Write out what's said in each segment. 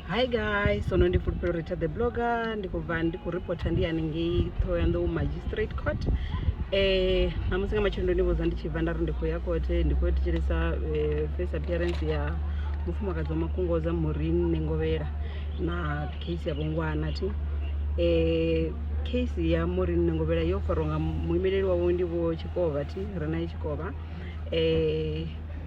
hi guys sono ndi fulufhelo rita the blogger ndi khou bva ndi khou reporter ndi haningei thohoyanḓou magistrate court um namusi nga matshelo ndo ni vhudza ndi tshi bva nda ri ndi khou ya kote ndi khou yo thetshelesa eh, face appearance ya mufumakadzi wa makungoza morin nengovhela na case ya vhongwana thi um case ya morin nengovhela yo farwa nga muimeleli wawe ndi vho tshikovha thi rena i tshikovha um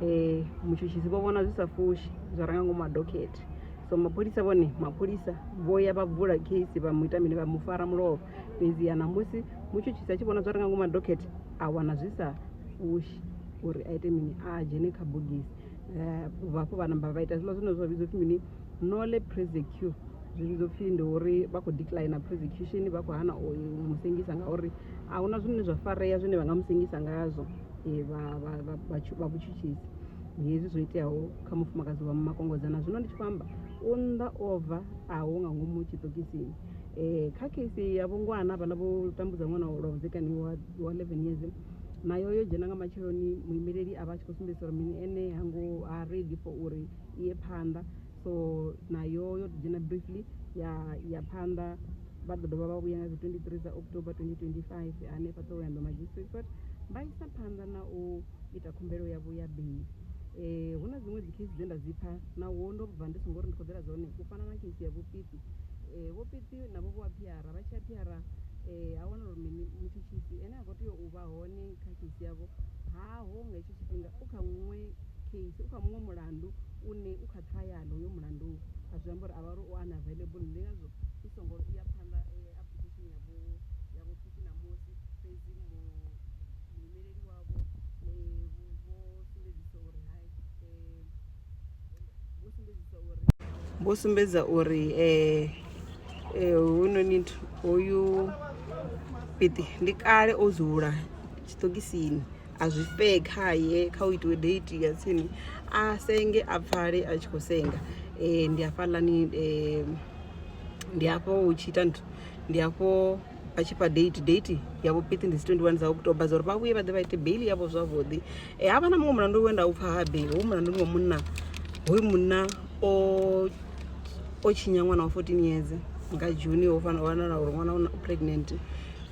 um mutshutshisi vho vhona zwi sa fushi zwa ranga ngomu ha dokhethe so mapholisa vhone mapholisa vho ya vha vula case vha mu ita mini vha mu fara mulovha fhedziha namusi mutshutshisi a tshi vhona zwa ranga ngomu ha dokhethe a wana zwi sa fushi uri a ite mini a dzhene kha bogisi um vhafho vha namba vha ita zwiḽa zwine zwa vhidzwa pfhi mini nole presecure zwi vhidzwa pfhi ndi uri vha khou decline presecution vha khou hana u musengisa ngauri a huna zwine zwa farea zwine vha nga musengisa ngazwo vha vha vha vha vhutshutshisi hezwi zwo iteaho kha mufumakadzi wa makongozana zwino ndi tshi khou amba u nnḓa ova a hu nga ngomu tshiṱokisini um kha case ya vhongwana vhala vho tambudza ṅwana lwa vhudzekani wa wa eleven years nayo yo dzhena nga matsheloni muimeleli a vha a tshi khou sumbedzisa uri mini ene hango ha ready for uri iye phanḓa so nayo yo ḓi dzhena briefly ya ya phanḓa vha ḓo dovha vha vhuya nga dzi 23 dza october 2025 hanefha ṱohoyando magistrate court vha isa phanḓa na u ita khumbelo ya vhuya beli eh hu na dziṅwe dzi case dze nda dzi pfha na wo ndo bva ndi songo ri ndi khoḓela dzone u fana na case ya vhupiti eh vhupiti na vho vha phiara vha tsha phiara eh a wana uri mini mutshitshisi ene a kho tea u vha hone kha case yavho ha ho nga Vhunga u kha muṅwe case, u kha muṅwe mulandu une u kha trial hoyo mulandu a zwi amba uri a vha uri u unavailable ndi ngazwo i songo ya phanḓa application ya vho ya vho Phuthi ṋamusi fhedzi mu muimeleli wavho vho sumbedzisa uri hai . vho sumbedza uri eh, eh, hoyunoni hoyu piṱi ndi kale o dzula tshiṱokisini a zwi fee khaye kha u itiwe date ya tsini a senge a pfale a tshi khou senga um ndi hafhaḽani um ndi hafho hu tshi ita nthu ndi hafho vha tshi fha date date yavho pithi ndi dzi 21 dza october dza uri vha vhuye vha ḓe vha ite bail yavho zwavhuḓi um ha vha na muṅwe mulandu we nda u pfha habe hoyu mulandu ndi wa munna hoyu munna o o tshinya ṅwana wa 14 years nga juni ho fanela wanala uri ṅwana u pregnant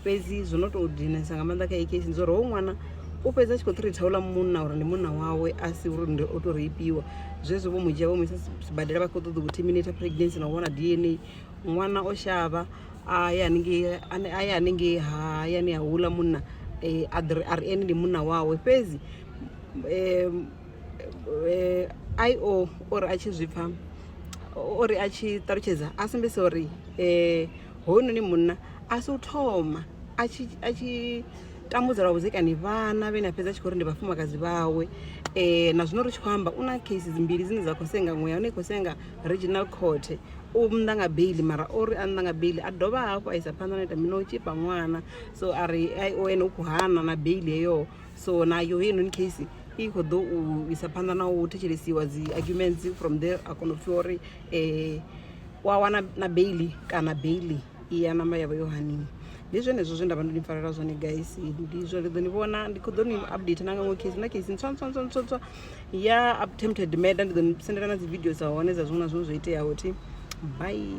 fhedzi zwo no tou dinesa nga maanḓa kha ekesi ndi zwa uri hoyu ṅwana u fhedzi a tshi khou thritha uḽa munna uri ndi munna wawe a si uri ndi o tou reipiwa zwezwo vho mu dzhia vho mu isa sibadela vha khou ṱoḓa u terminate pregnancy na u vhona d n a ṅwana o shavha a ye haningei a ye haningei hayani ha hula munna a ḓiri a ri ene ndi munna wawe fhedzi i o uri a tshi zwi pfha uri a tshi ṱalutshedza a sumbedzisa uri hoyunoni munna a si u thoma a tshi a tshi tambudza lwa vhudzekani vhana vhane a fhedza a tshi kho uri ndi vhafumakadzi vhawe na zwino ri tshi khou amba u na cases mbili dzine dza kho senga muṅwe ya hone i khou senga regional court. u nnḓa nga beiḽi mara ori a nnḓa nga beiḽi a dovha hafhu a isa phanḓa na ita mini na u tshipa ṅwana so a ri ene u khou hana na beiḽi heyo so nayo heinoni case i khou ḓo u isa phanḓa na u thetshelesiwa dzi arguments from there a kona u pfhiwa uri um u a wana na beiḽi kana beiḽi. iya namba yavho yo haniwa ndi zwenezwo zwe nda vha ndo ni pfalela zwone guys ndi zwo ri ḓo ni vhona ndi khou ḓo ni update na nga ṅwe case na case ntswa ntswa ntswa ntswa ntswa ya attempted murder ndi ḓo ni sendela na dzi video dza hone dza zwiṅwe na zwiṅwe zwo iteaho thi bye